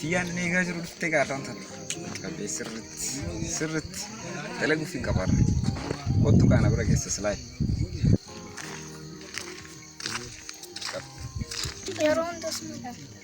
Tiyyaan inni eegaa jiru dhuftee gaadhaan sana. Qabee sirriitti sirriitti dalaguuf hin qabaarra. Kottu kaana bira geessa silaayi. Yeroo hundas mul'ata.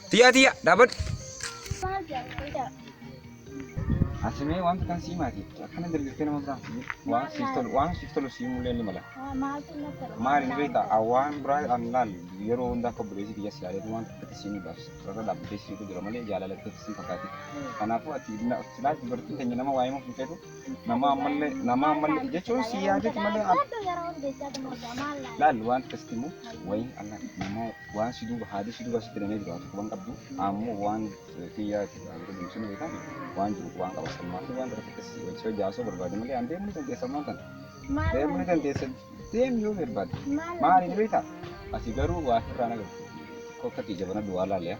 Tiyyaa tiyyaa dhaabadhu. Maal jedhama qoydaa? Asimee wanta kan sii maati akkana dalgaggee nama biraa fuudhu. waan siif tolu waan siif tolu sii mullee ni mala. Maaltu na tolaa? Maali ni beektaa awwaan biraa an laal yeroo hunda akka obboleessi kiyya si yaadatu waan tokkotti sii mudaaf sarara dhaabbatee siitu jira malee jaalala ta'e sii fakkaate. Kanaafuu ati silaa dubartiin keenya nama waa'ee muuf hin feetu Namaa ammallee namaa ammallee jechuun si yaadatu malee laal waan akkasitti immoo wayii Allah namaa waan si duuba haadhi si duuba sitti namee jiraatu waan qabdu ammoo waan kiyyaa si dhaabatu deemsun beekan waan jiru waan qaba sammaa fi waan tokko akkasii wajji hojjaasoo barbaade malee aan deemuu ni dandeessa maan tana deemuu ni dandeessa deemi yoo barbaade maaliin beektaa ati garuu waa irraa nagartu kokkatti jabana duwaa laaliyaa.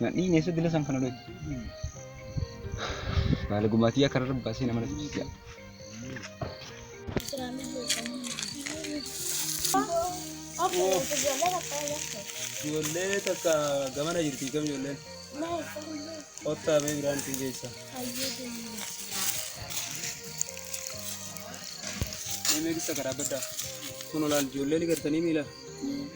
Nadhiin eessa dila san kana dhooyte? Baala gumaatii akka irra baasee nama natti jijjiira. Ijoollee takka gamana jirti kam ijoolleen? Kottaa bee biraan isin geessa. Mee meeqissa karaa baddaa? Kun olaal ijoollee ni gartanii miila?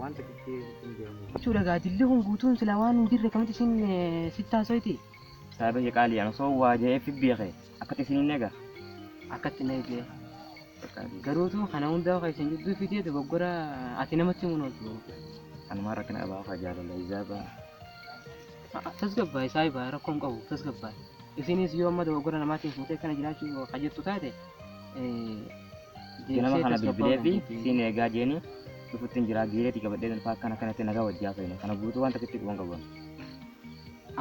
Waan takkitti hin deemu. Jechuudha gaa jilli kun guutuun silaa waan hin jirre akkamitti isin sitti haasoyti? Saaba kee qaalii ana osoo waa ja'ee fi beeke akkatti isin hin eega. Akkatti na eegee. Garuutu kana hundaa kan isin jidduu fidee dogoggora ati namatti himuun ooltu. Anumaan rakkina abaa faa jaalala izaabaa. Tasgabbaa'i saahibaa rakkoon qabu tasgabbaa'i. Isinis yoo amma dogoggora namaatiin fuutee kana jiraachuu ka jettu taate ganama kana bilbilee fi siin eegaa jeeni dhufutti hin jiraa giireeti qabadhee dhufa akkana kanatti nagaa wajjii haasofne kana guutuu waan takkitti quban qabu.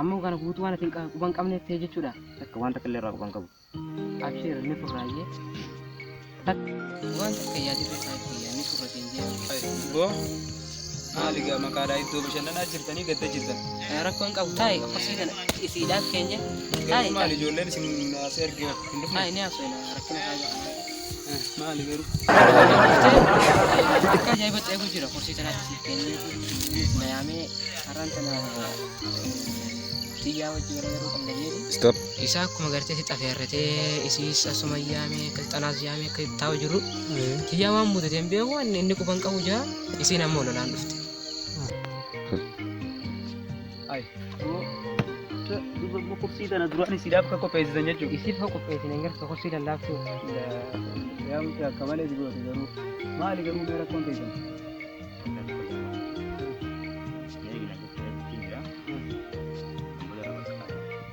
Ammoo kana guutuu waan ati quban qabneef ta'e jechuudha. Takka waan takka illee irraa quban qabu. Abshiir ni furraayyee. Waan takka yaadirra isaa itti yaadni furra siin jee. Boo maali gaa maqaadhaa iddoo bashannanaa jirtanii gadda jirtan. Rakkoon qabu taa'e akkasii kana isiidhaaf keenya. Garuu maali ijoolleen isin naasee argee hin dhufne. Taa'e ni haasofna rakkina isaa ga'a. Maali garuu. Akka ajaa'ibatti eeguu jira kursii kanaatti siif kennee na yaamee har'aan tana biyyaa wajjin yeroo yeroo qabna jeeti. Stop. Isaa akkuma gartee si xafeerratee isiis asuma yaamee akka xalaas yaamee akka taa'u jiru. Kiyyaa waan muudate hin beeku waan inni quban qabu jira isiin ammoo lolaan dhufte. Kursii tana duraan isiidhaaf akka qopheessitan jechuudha. Isiif hoo qopheessine hin gartu kursii lallaaftuu. Yaa mucaa akka malee si goote garuu maali garuu mee rakkoon teessan.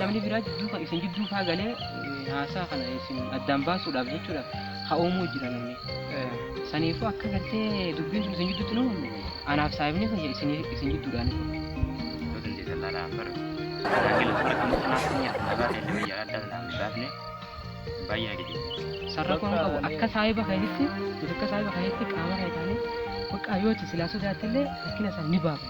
namni biraa jidduu kan isin jidduu faa galee eh, haasaa kana isin addaan baasuudhaaf jechuudha haa uumuu jira namni. Eh, Saniifuu akka gartee dubbiin sun isin jidduutti nu anaaf saayibni kiyya isin isin jidduudhaan. Yoo dandeessan laala afar. Tajaajila afar kan kanaaf kan nyaatu nagaa ta'e illee yaala adda addaa hin baafne baay'ee na gaddisiisa. Sarra kun qabu akka saayiba keessatti nuti akka saayiba keessatti qaama kee taanee bakka yoo itti silaa sodaattillee rakkina isaa ni baafna.